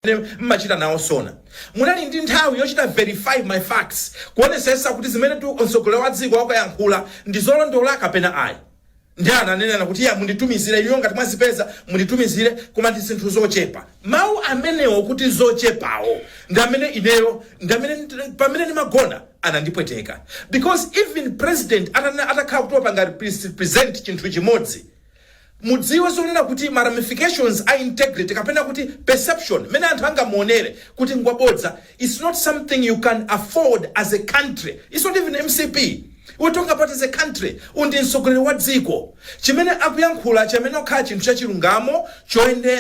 amene mmachita nawo zona munali ndi nthawi yochita verify ma facts kuonesesa kuti zimene mtsogoleri wa dziko wakuyankhula ndi zolondola kapena ayi ndiye ananena kuti iya munditumizire inuyo ngati mwazipeza munditumizire koma ndi zinthu zochepa mawu amenewo kuti zochepawo ndi amene ineyo ndi amene nd- pamene ndimagona anandipweteka because even president atana- atakhala kuti wapanga repres- present chinthu chimodzi Mudziwe zonena kuti ma ramifications a integrity kapena kuti perception, mmene anthu angamuonere kuti ngwabodza its not something you can afford as a country, its not even mcp we talking about as a country, uyu ndi mtsogoleri wa dziko. Chimene akuyankhula chiyenera kukhala chinthu cha chilungamo,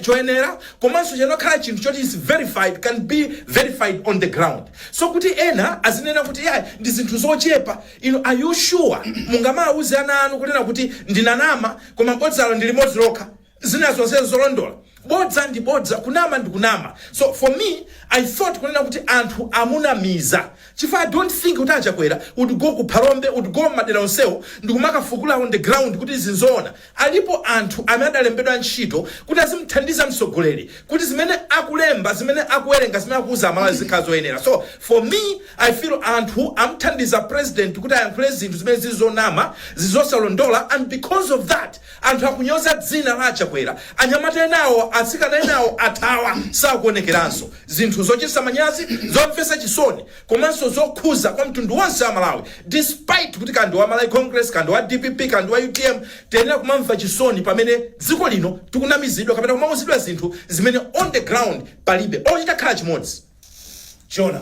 choyenera komanso chiyenera kukhala chinthu choti its verified, can be verified on the ground. So kuti ena azinena kuti iyayi ndi zinthu zochepa. Inu are you sure mungamauze ana anu kunena kuti ndinanama koma bodzalo ndi limodzi lokha zina zonse nzolondola? Bodza ndi bodza kunama ndi kunama so for me I thought kunena kuti anthu amunamiza chifukwa I don't think kuti a Chakwera would go ku Phalombe would go mmadera onsewo ndikumakafukula on the ground kuti izi nzoona. Alipo anthu amene adalembedwa ntchito kuti azimuthandiza mtsogoleri kuti zimene akulemba, zimene akuwerenga, zimene akuuza Amalawi zizikhala zoyenera. So, for me, I feel anthu amuthandiza president kuti ayankhule zinthu zimene zili zonama, zili zosalondola and because of that anthu akunyoza dzina la a Chakwera. Anyamata enawo, atsikana enawo athawa, sakuonekeranso. Zinthu zochititsa manyazi, zomvetsa chisoni. komanso zokhuza kwa mtundu wonse wa Malawi despite kuti kaya ndi wa Malawi Congress kaya ndi wa dpp kaya ndi wa utm tiyenera kumamva chisoni pamene dziko lino tikunamizidwa kapena kumauzidwa zinthu zimene on the ground palibe olo chitakhala chimodzi chona